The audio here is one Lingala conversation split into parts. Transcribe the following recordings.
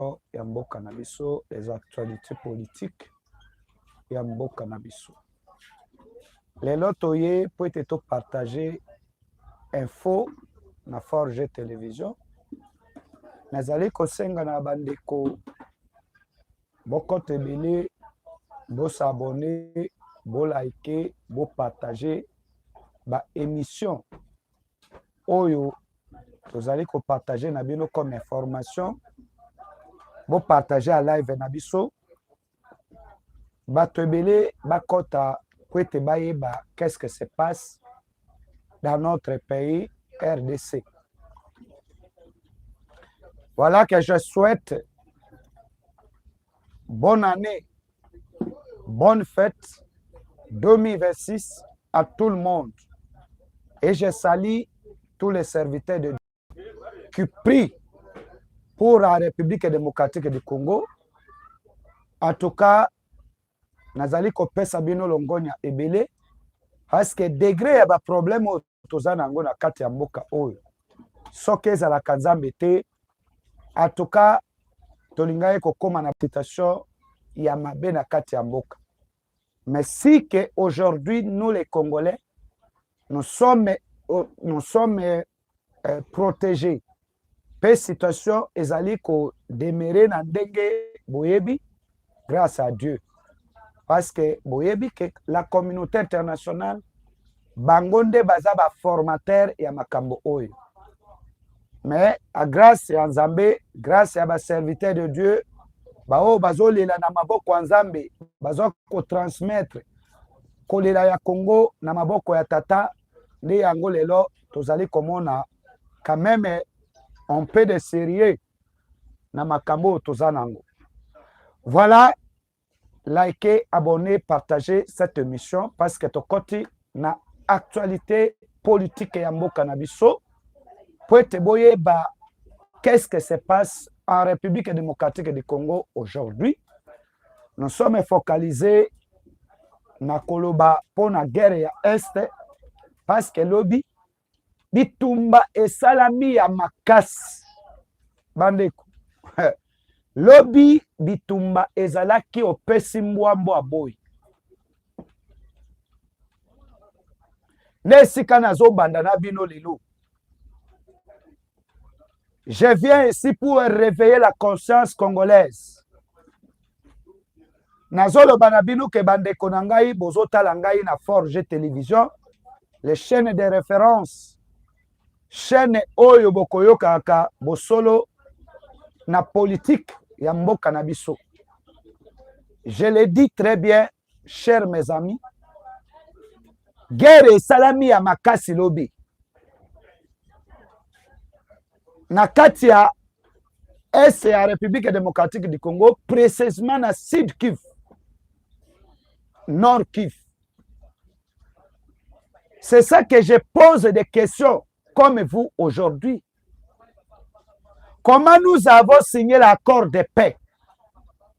sport ya mboka na biso les actualités politiques ya mboka na biso lelo toye mpo ete topartage info na forge television nazali kosenga na bandeko bokota ebele bosabone bolike bopartage baémission oyo tozali kopartage na bino comme information bopartage ya live na biso bato ebele bakɔta po ete bayeba qu'est-ce que se passe dans notre pays rdc voilà que je souhaite bonne année Bonne fête 2026 à tout le monde. Et je salue tous les serviteurs de Dieu qui prient pour la République démocratique du Congo. En tout cas, nazali kopesa bino longonya ebele parce que degré ya ba problème toza na yango na kati ya mboka oyo soki ezalaka nzambe te atuka tolingaki kokóma na citation ya mabe na kati ya mboka mais si que aujourd'hui nous les congolais nous sommes, euh, nous sommes euh, protégés pe situation ezali ko demeurer na ndenge boyebi grâce à Dieu parce que boyebi que la communauté internationale bango nde baza ba formateur ya makambo oyo mais à grâce ya Nzambe grâce ya ba serviteur de Dieu baoyo bazolela na maboko ya Nzambe baza kotransmettre kolela ya Congo na maboko ya tata nde yango lelo tozali komona quand même un peu de sérieux na makambo oyo toza nango voilà likez abonner partager cette émission parce que tokoti na actualité politique ya mboka na biso mpo ete boyeba qu'est-ce que se passe en république démocratique du congo aujourd'hui nous sommes focalisés na koloba mpo na guerre ya est parce que lobi bitumba esalami ya makasi bandeko lobi bitumba ezalaki opesi mbwa mbwa boyi na esika nazobanda na bino lelo Je viens ici pour réveiller la conscience congolaise. nazoloba na bino ke bandeko na ngai bozotala ngai na forge télévision les chaînes de référence chaîne oyo bokoyokaka bosolo na politique ya mboka na biso je le dis très bien cher mes amis guerre esalami ya makasi lobi na kati ya est ya république démocratique du congo précisément na sud kiv nord kiv c'est ça que je pose des questions comme vous aujourd'hui comment nous avons signé l'accord de paix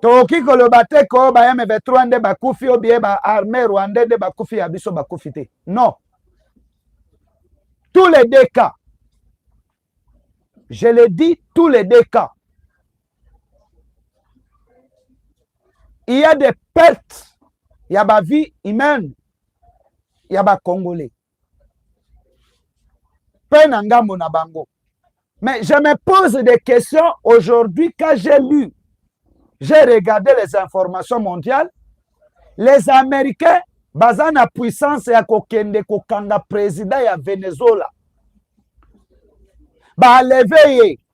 tokoki koloba te ko ba M23 nde bakufi o bien ba armée rwandais nde bakufi ya biso bakufi te non tous les deux cas je le dis tous les deux cas il y a des pertes ya ba vie humaine ya ba congolais mpe na ngambo na bango mais je me pose des questions aujourd'hui quand j'ai lu j'ai regardé les informations mondiales les américains baza na puissance ya kokende kokanga président ya venezuela baleve ye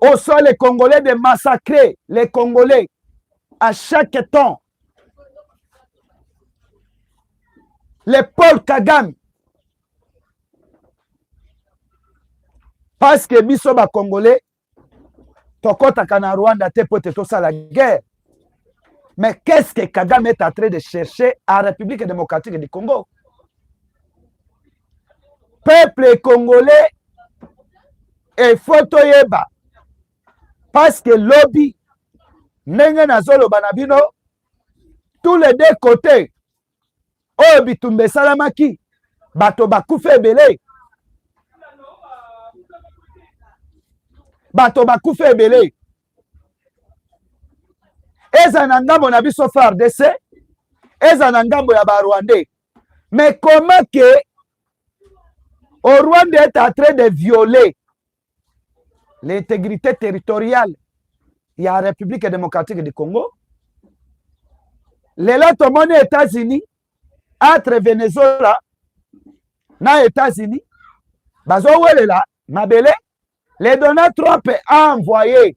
Au soit les Congolais de massacrer les Congolais à chaque temps. Les Paul Kagame. Parce que biso ba Congolais, tokotaka na Rwanda te pote tosala guerre. Mais qu'est-ce que Kagame est en train de chercher en République démocratique du Congo Peuple congolais est photoyeba parce que lobby ndenge nazoloba na bino tous les deux côtés oyo bitumba esalamaki bato bakufa ebele bato bakufa ebele eza na ngambo na biso fardc eza na ngambo ya barwandais mais comment ke orwanda est en train de violer l'intégrité territoriale ya République démocratique du Congo. Lelo tomoni États-Unis entre Venezuela na États-Unis bazowelela mabele le Donald Trump a envoyé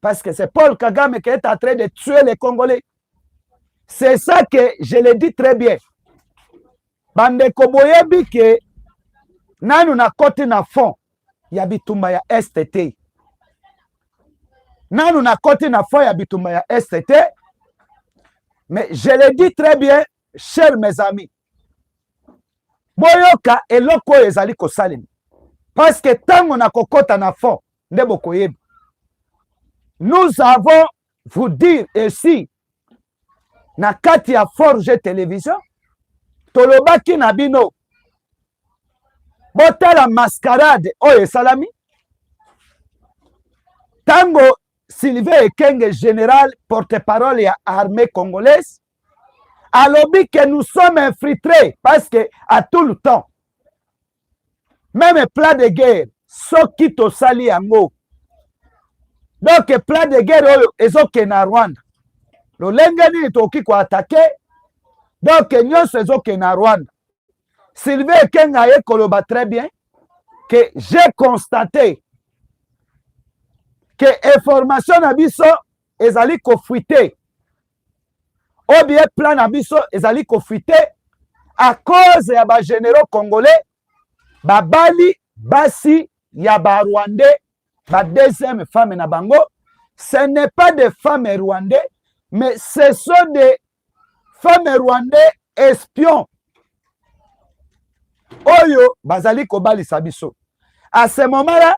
Parce que c'est Paul Kagame qui est en train de tuer les Congolais. C'est ça que je le dis très bien. Bandeko boyebi que nanu na kote na fond ya bitumba ya STT. Nanu na kote na fond ya bitumba ya STT. Mais je le dis très bien, chers mes amis. Boyoka eloko ezali kosalema. Parce que tango na kokota na fond nde bokoyeba nous avons vous dire esi na kati ya forge television tolobaki na bino botala mascarade oyo esalami ntango sylvain ekenge général porte-parole ya armée congolaise alobi que nous sommes infiltrés parce que à tout le temps meme plat de guerre soki tosali yango donc plat de guerre oyo ezokende na rwanda lolenge nini tokoki koatake donc nyonso ezokende na rwanda sylvie ekenga aye koloba très bien que j'ai constaté que information na biso ezali kofrite oba plan na biso ezali kofrite a cause ya bagenero congolais babali basi ya barwandais ba deuxième femme na bango ce n'est pas des femmes rwandais mais ce sont des femme rwandais espion oyo bazali kobalisa biso à ce moment là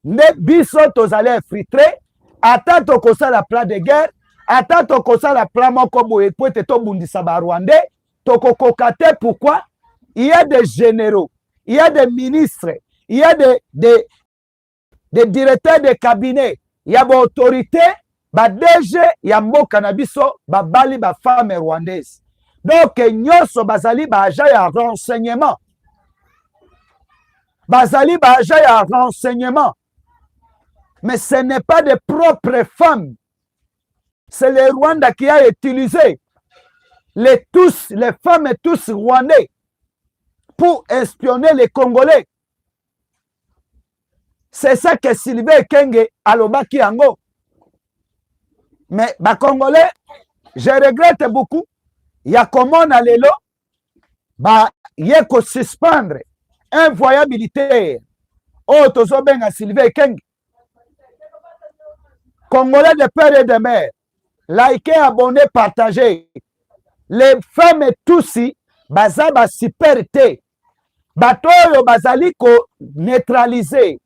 nde biso tozali infiltre ata tokosala plan de guerre ata tokosala plan moko boye mpo ete tobundisa barwandais tokokoka te pourquoi il y a des généraux il y a des ministres il y a des, des, de directeur de cabinet ya baautorité ba DG ya mboka na biso babali ba femme rwandaise donc nyonso bazali baaja ya renseignement bazali baaja ya renseignement mais ce n'est pas de propres femmes c'est le Rwanda qui a utilisé les tous les femmes tous rwandais pour espionner les Congolais c'est ça que Sylvain Kenge alobaki yango mais ba congolais je regrette beaucoup ya komona lelo ba ye ko suspendre un voyant militaire oyo tozobenga Sylvain Kenge congolais de père et de mère likez abonné partagez les femmes tusi baza ba super te bato oyo bazali koneutralize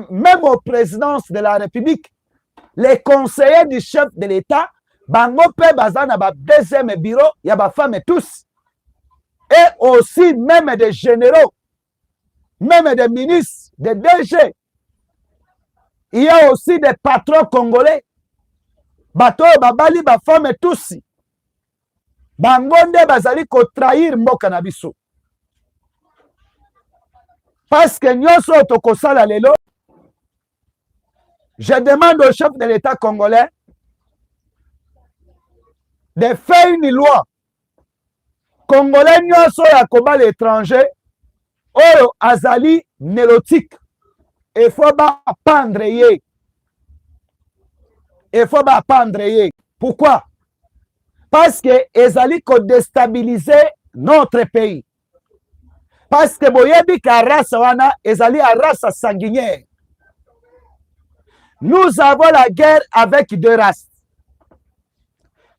meme au présidence de la république les conseillers du chef de l'état bango mpe baza na ba deuxième bureau ya bafemme tous et aussi meme des généraux meme des ministres des dg il y a aussi des patrons congolais bato oyo babali bafemme tusi bango nde bazali kotrahir mboka na biso paske nyonso oyo tokosala lelo je demande au chef de l'état congolais de faire une loi congolais nyonso oyo akobala étranger oyo azali nelotique efo bapandre ye efo bapandre ye pourquoi parce que ezali kodestabilise notre pays parce que boyebi ka race wana ezali ya race sanguinière nous avons la guerre avec deux races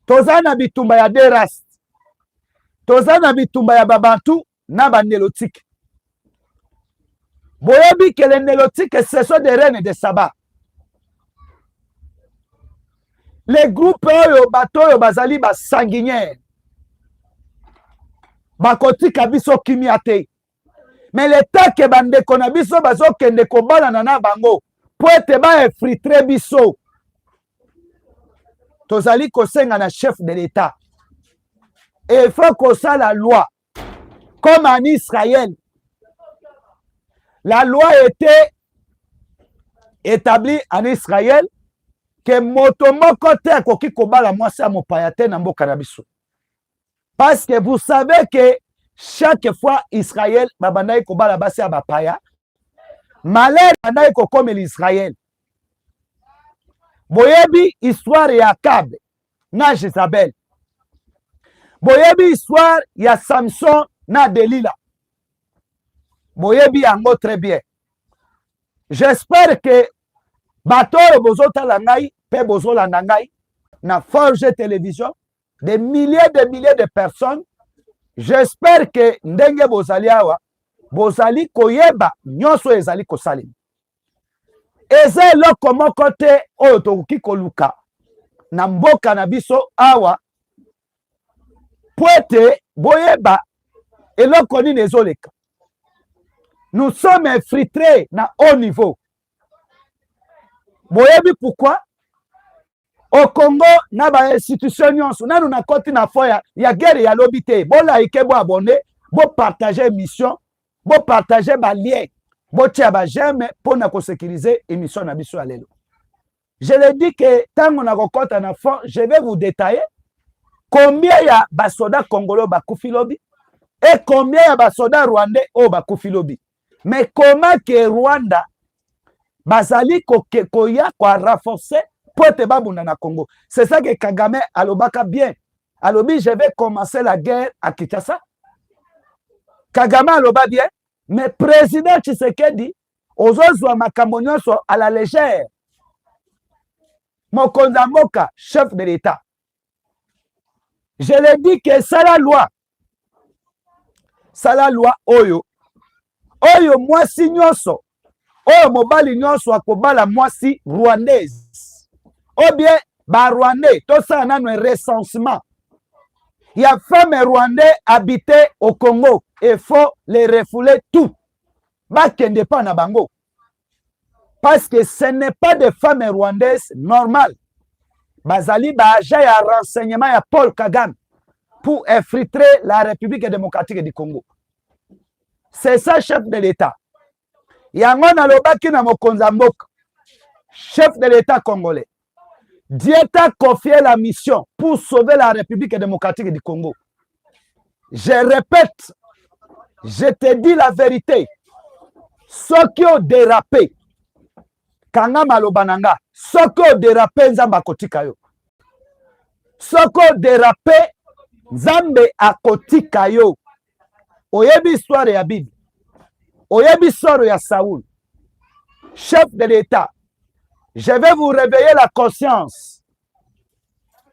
toza na bitumba ya deux races toza na bitumba ya babantu na ba nelotike boyebi ke le nelotike ce sont des reines de saba le groupe oyo bato oyo bazali basanguiniere bakotika biso kimia te me letake bandeko na biso bazokende kobalana na bango mpo ete baefritre biso tozali kosenga na chef de l'etat efo kosala loi comme en Israël, la loi était établie en Israël que moto moko te akoki kobala mwasi ya mopaya te na mboka na biso. Parce que vous savez que chaque fois Israël babandaki kobala basi ya bapaya, malheur bandaki kokomela Israël. Boyebi histoire ya Akabe na jezabel boyebi histoire ya samson na delila boyebi yango très bien j'espère que bato oyo bozotala ngai mpe bozolanda ngai na forge télévision des milliers de milliers de personnes j'espère que ndenge bozali awa bozali koyeba nyonso oyo ezali kosalema eza eloko moko te oyo tokoki koluka na mboka na biso awa mpo ete boyeba eloko nini ezoleka nous sommes infiltrés na haut niveau boyebi pourquoi au congo na bainstitution nyonso nanu nakoti na fo ya, ya guerre ya lobi te bolaike boabone bopartage émission Bo partager ba lien, bo tia ba j'aime pour na ko sécuriser émission na biso ya lelo. Je le dis que tango na kokota na fond, je vais vous détailler combien ya ba soda congolais ba kufi lobi et combien ya ba soda rwandais oyo ba kufi lobi. Mais comment que Rwanda bazali ko koya ko renforcer pote babunda na Congo. C'est ça que Kagame alobaka bien alobi je vais commencer la guerre à Kinshasa Kagame aloba bien mais président Tshisekedi ozozwa makambo nyonso à la légère mokonzi ya mboka chef de l'État je le dis que sala loi sala loi oyo oyo mwasi nyonso oyo mobali nyonso akobala mwasi rwandaise ou bien barwandais tosala nano recensement ya femme rwandais habite au congo il faut les refouler tout bakende mpa na bango parce que ce n'est pas des femmes rwandaises normales bazali baaja ya renseignement ya paul kagame pour infiltrer la république démocratique du congo c'est ça chef de l'état yango nalobaki na mokonzi ya mboka chef de l'état congolais Dieu t'a confié la mission pour sauver la République démocratique du Congo. Je répète, je te dis la vérité. Ceux qui ont dérapé, kanga maloba na nga, ceux qui ont dérapé nzambe akotika yo. Ceux qui ont dérapé nzambe akotika yo. oyebi histoire ya bible oyebi histoire ya saul chef de l'état je vais vous réveiller la conscience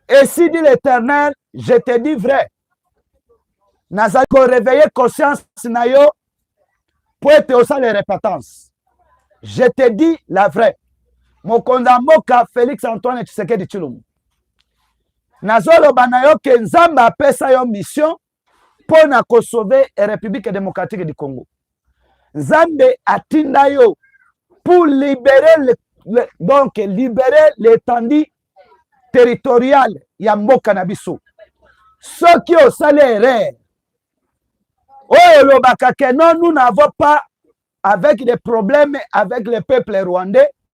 et si dit l'éternel je te dis vrai nazali koreveille conscience na yo mpo ete osala repentance je te dis la vraie mokonzi ya mboka félix antoine tshisekedi tshilombo nazoloba na yo ke nzambe apesa yo mission mpo na kosauve Republique Democratique du Congo. Nzambe atinda yo pour libérer le, le, donc libérer l'étendue territoriale ya mboka na biso. Soki osali erreur oyo olobaka que non nous n'avons pas avec des problèmes avec le peuple rwandais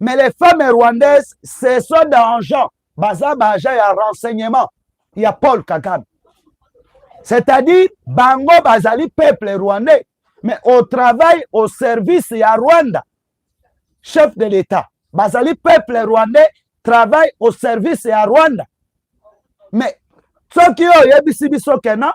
mais les femmes rwandaises ce sont d'argent baza baagent ya renseignement ya paul kagame c'est-à-dire bango bazali peuple rwandais mais au travail au service ya rwanda chef de l'état bazali peuple rwandais travail au service ya rwanda mais soki oyo oyebisi biso kena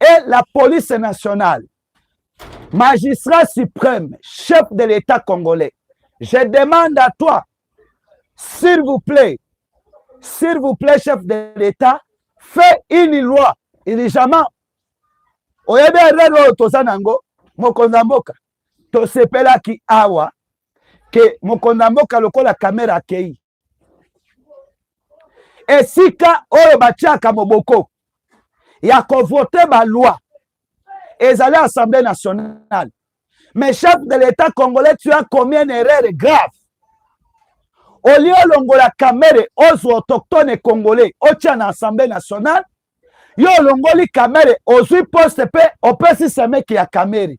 et la police nationale, magistrat suprême, chef de l'État congolais, je demande à toi, s'il vous plaît, s'il vous plaît, chef de l'État, fais une loi urgemment. oyebi erreur oyo toza nango mokonzi ya mboka tosepelaki awa ke mokonzi ya mboka lokola kamera akei esika oyo batiaka moboko ya kovote baloi ezali assemblée nationale mais chef de l'état congolais tu as combien erreur grave olie olongola kamere ozwa autochtone congolais otya na assemblée nationale yo olongoli kamere ozwi poste mpe opesi semeki ya kamere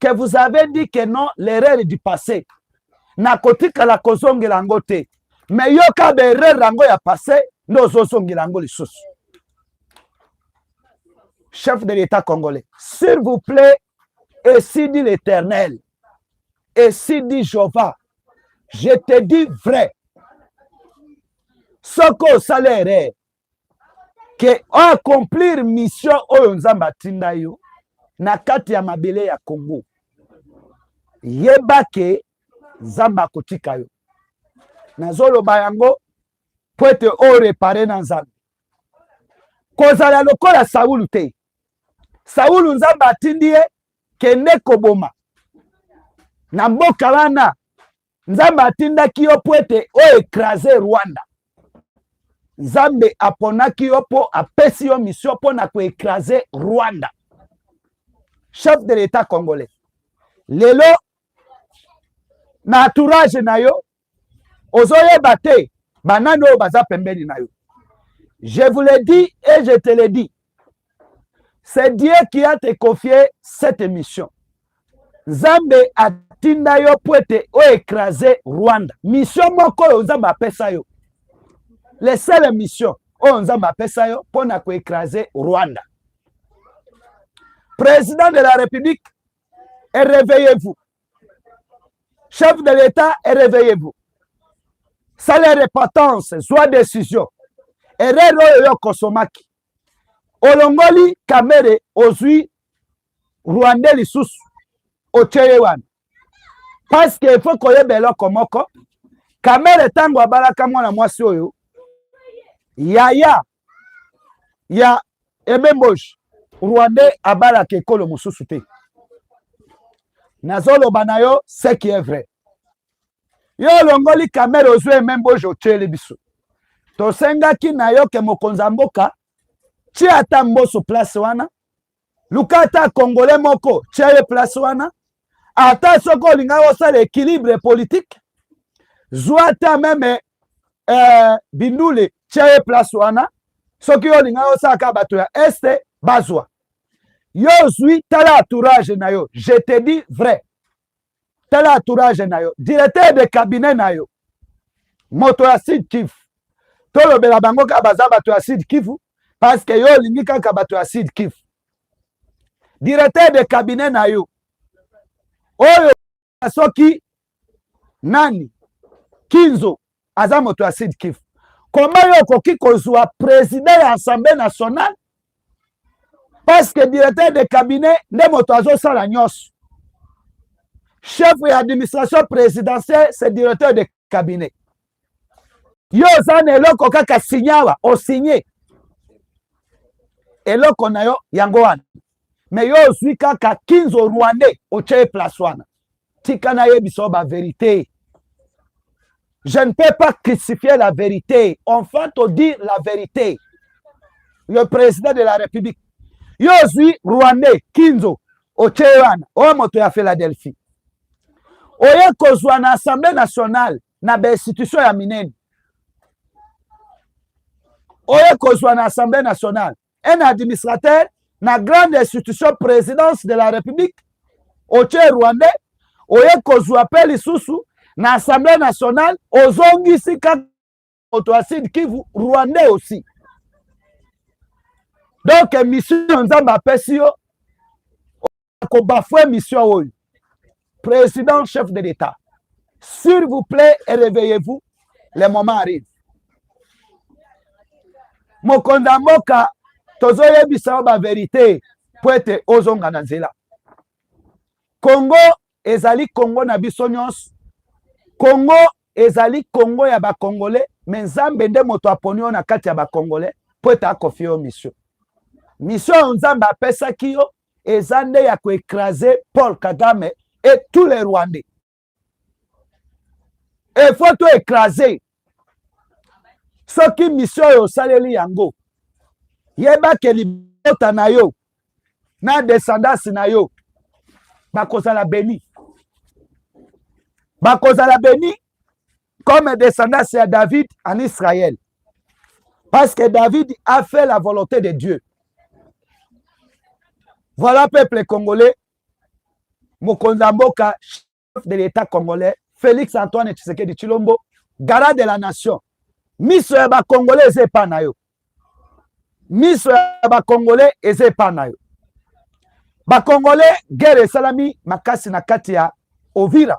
que vous avez dit que non l'erreur du passé nakotikala kozongela yango te me yoka baerreur yango ya passé nde ozozongela yango lisusu chef de l'état congolais s'il vous plaît esi dit l'éternel esi dit jova je te dis vrai soki osala erreur ke oaccomplir mission oyo nzambe atinda yo na kati ya mabele ya congo yeba ke nzambe akotika yo nazoloba yango mpo ete orepare na nzambe kozala lokola saulu te saulu nzambe atindi ye kende koboma na mboka wana nzambe atindaki yo mpo ete o ekrase rwanda nzambe aponaki yo mpo apesi yo mission mpo na koekrase rwanda chef de l'etat congolais lelo na entourage na yo ozoyeba te banani oyo baza pembeni na yo je vous le dis et je te le dis c'est Dieu qui a te confié cette mission nzambe atinda yo mpo ete oekrase rwanda misio moko oyo nzambe apesa yo le seul mission oyo nzambe apesa yo mpo na koekrase rwanda président de la république ereveillez-vous Chef de l'État, réveillez-vous. Salaire repentance, soit décision. Erreur oyo yo kosomaki. Olongoli Kamere ozui Rwandais lisusu otie ye wana. Parce que il faut koyeba eloko moko. Kamere ntango abalaka mwana mwasi oyo yaya ya ebemboji rwandais abalaka ekolo mosusu te nazoloba na yo ce qui est vrai yo olongoli kamere ozwi ememboji otyeli biso tosengaki na yo ke mokonzi ya mboka tia ata mboso place wana luka ata congolais moko tya ye place wana ata soki olingaki osala équilibre politique zwa ata meme eh, bindule tya ye place wana soki yo olingaki osala kaka bato ya este bazwa yo ozwi tala entourage na yo je te dis vrai tala entourage na yo directeur de cabinet na yo moto ya sud kivu tolobela bango kaka baza bato ya sud kivu parce que yo olingi kaka bato ya sud kivu directeur de cabinet na yo oyo soki nani kinzo aza moto ya sud kivu koma yo okoki kozwa president ya assemblée nationale parce que directeur de cabinet nde moto azosala nyonso chef ya administration présidentielle c'est directeur de cabinet yo oza na eloko kaka sinyawa osigne eloko na yo yango wana me yo ozwi kaka kinzo rwandais otye place wana tika nayebisa yo baverite je ne peux pas crucifier la vérité enfin to dire la vérité le président de la république yo ozwi rwandais kinzo otye wana oyo moto ya philadelphie oye kozwa na assemblée nationale na bainstitution ya minene oye kozwa na assemblée nationale un administrateur na grande institution présidence de la république otie rwandais oye kozwa mpe lisusu na assemblée nationale ozongisi kaka moto ya sud kivu rwandais aussi donc mission nzambe apesi yo ko bafouer mission oyo président chef de l'état s'il vous plaît réveillez-vous le moment arrive mokonzi ya mboka tozoyebisa yo baverité mpo ete ozonga na nzela kongo ezali kongo na biso nyonso kongo ezali kongo ya bakongole me nzambe nde moto aponi yo na kati ya bakongole mpo ete akofi yo misio misio oyo nzambe apesaki yo eza nde ya ko écraser Paul Kagame et tous les Rwandais il faut to écraser soki mission oyo osaleli yango yeba ke libota na yo na descendance na yo bakozala beni bakozala beni comme descendance ya David en Israël. Parce que David a fait la volonté de Dieu. Voilà peuple congolais, mokonzi ya mboka, chef de l'État congolais, Félix Antoine Tshisekedi Tshilombo, gara de la nation. Miso ya ba congolais eza epa na yo. Miso ya ba congolais eza epa na yo. Ba congolais guerre esalami makasi na kati ya Ovira.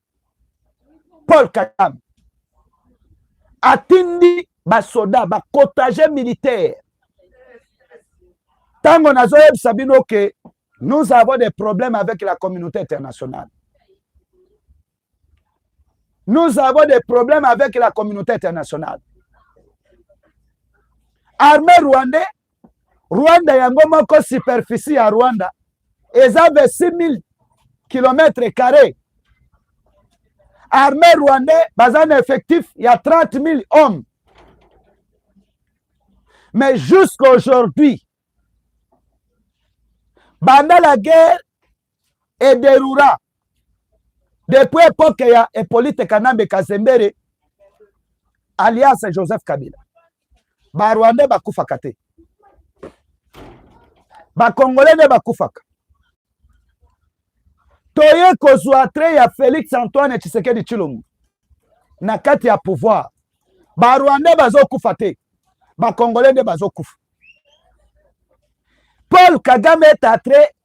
Paul Kagame atindi basoda bakotage militaire ntango nazoyebisa bino ke nous avons des problèmes avec la communauté internationale nous avons des problèmes avec la communauté internationale armée rwandais Rwanda yango moko superficie ya Rwanda eza 26000 kilomètre carré. Armée rwandais baza na effectif ya 30000 hommes. Mais jusqu'aujourd'hui banda la guerre et de Rura. Depuis l'époque, il y a Hippolyte Kanambe Kazembere, alias Joseph Kabila. Ba Rwandais ba kufaka te. Ba Congolais ne ba kufaka. Toye kozwa trait ya Felix Antoine Tshisekedi Tshilombo na kati ya pouvoir. Ba Rwandais bazokufa te. Ba Congolais nde bazokufa. Paul Kagame est entré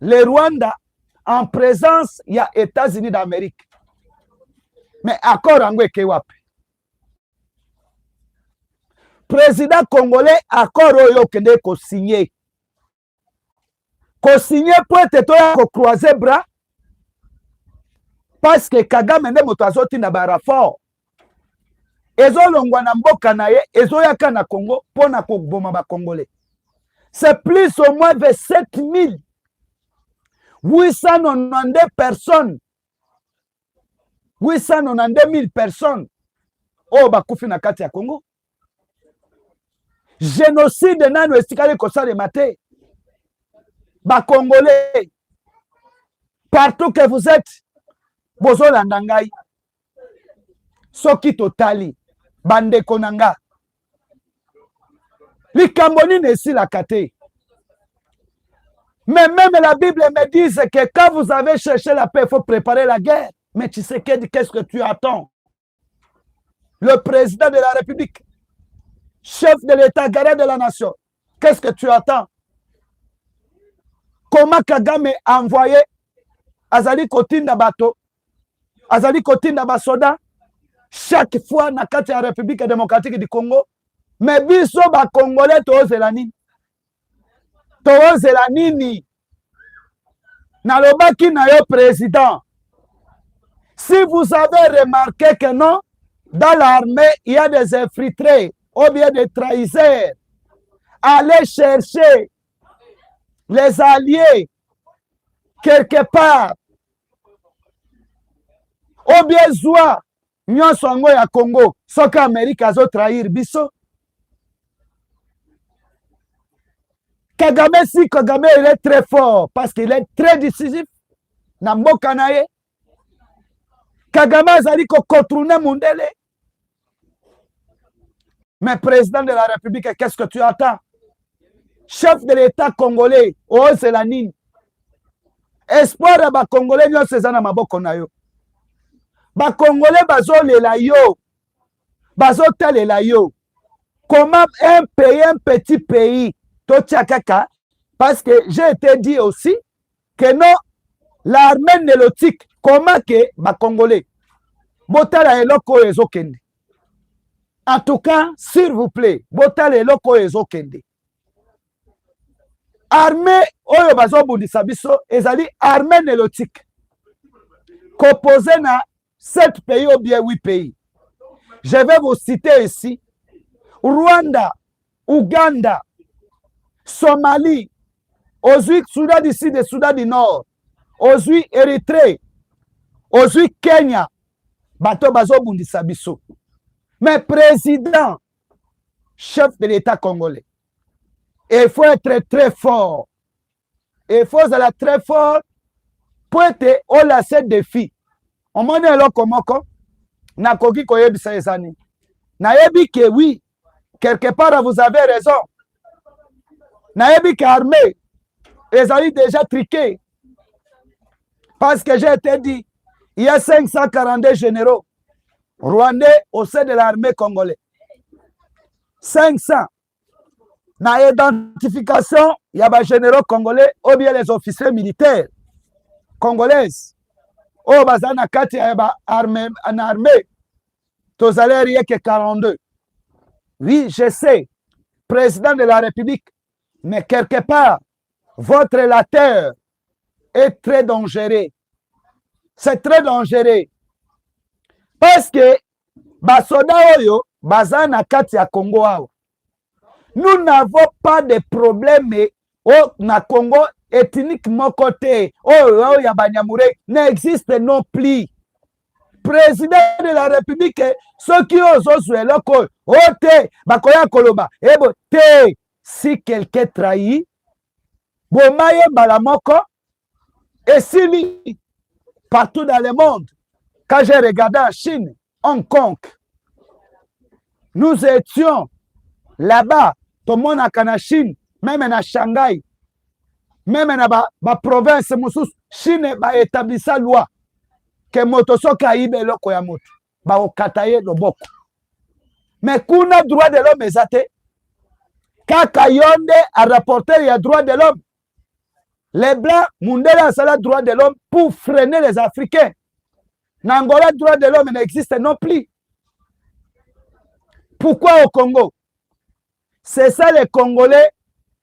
le Rwanda en presence ya Etats-Unis d'Amerique. Mais accord yango eke wapi? Président congolais accord oyo okende ko signer. Ko signer po ete toya ko croiser bras parce que Kagame nde moto azotinda ba rapport ezolongwa na mboka na ye ezoyaka na congo mpo na koboma bacongolais c'est plus au moins 27 892 personnes 892 000 personnes oyo bakufi na kati ya congo genocide nano esikali kosalema te bacongolais partout que vous êtes bozolanda ngai soki totali bandeko na nga likambo nini esilaka te mais même la bible me dise que quand vous avez cherché la paix il faut préparer la guerre mais tu sais qu'est-ce que tu attends le président de la République, chef de l'État, garant de la nation, qu'est-ce que tu attends Comment Kagame a envoyé Azali Kotinda Bato, Azali Kotinda Basoda, chaque fois na kati ya République démocratique du Congo, mais biso ba Congolais tozela nini tozela nini nalobaki na yo président si vous avez remarqué que non dans l'armée il y a des infiltrés ou bien des trahiseurs allez chercher les alliés quelque part ou bien zwa nyonso yango ya congo soki amerike azo trahir biso kagame si kagame il est très fort parce qu'il est très décisif na mboka na ye kagame azali kocontourne mondele mais président de la république qu'est ce que tu attends chef de l'etat congolais ozela nini espoir ya bacongolais nyonso eza na maboko na yo bacongolais bazolela yo bazotalela yo comment un pays un petit pays totya kaka parce que j'ai été dit aussi que non l'armée nélotique comment que ba congolais botala eloko oyo ezokende en tout cas s'il vous plaît botala eloko oyo ezokende armée oyo bazobundisa biso ezali armée nélotique kopose na 7 pays ou bien 8 pays. Je vais vous citer ici Rwanda, Ouganda, Somalie, ozui Soudan du Sud et Soudan du Nord, ozui Erythrée, ozui Kenya, bato bazobundisa biso. Mais président, chef de l'État congolais, il faut être très fort il faut ozala très fort mpo ete olase defi omoni eloko moko nakoki koyebisa eza nini nayebi ke oui quelque part vous avez raison nayebi ke armée ezali déjà triqué parce que j'ai été dit il y a 542 généraux rwandais au sein de l'armée congolais 500 na identification ya ba généraux congolais ou bien les officiers militaires congolaise oyo baza na kati ya ba arme na armée tozali arieke 42 oui je sais président de la république mais quelque part votre lateur est très dangereux c'est très dangereux parce que basoda oyo baza na kati ya congo awa nous n'avons pas de problème oh, na congo ethnique moko te oyo oh, oh, ya banyamure na existe non plus président de la république soki oyo ozozwa eloko oyo o oh, te bakoya koloba ebo te si quelqu'un trahi boma ye mbala moko esili partout dans le monde quand j'ai regardé en chine hong kong nous étions là-bas tomonaka na chine meme na shanghai meme na baprovince ba mosusu chine baetablisa loi ke moto soki ayiba eloko ya moto bakokata ye loboko me kuna droit de l'homme eza te kaka yo nde arapporter ya droit de l'homme Les blancs, Mundele a sala droit de l'homme pour freiner les Africains. N'Angola, droit de l'homme n'existe non plus. Pourquoi au Congo C'est ça les Congolais.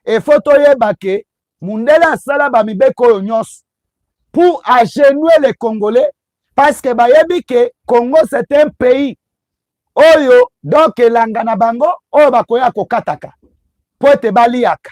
Et faut que Mundele a sala ba mibeko nyos pour agenouer les Congolais parce que bayebi que Congo c'est un pays oyo donc elanga na bango oyo bakoya kokataka mpo ete baliyaka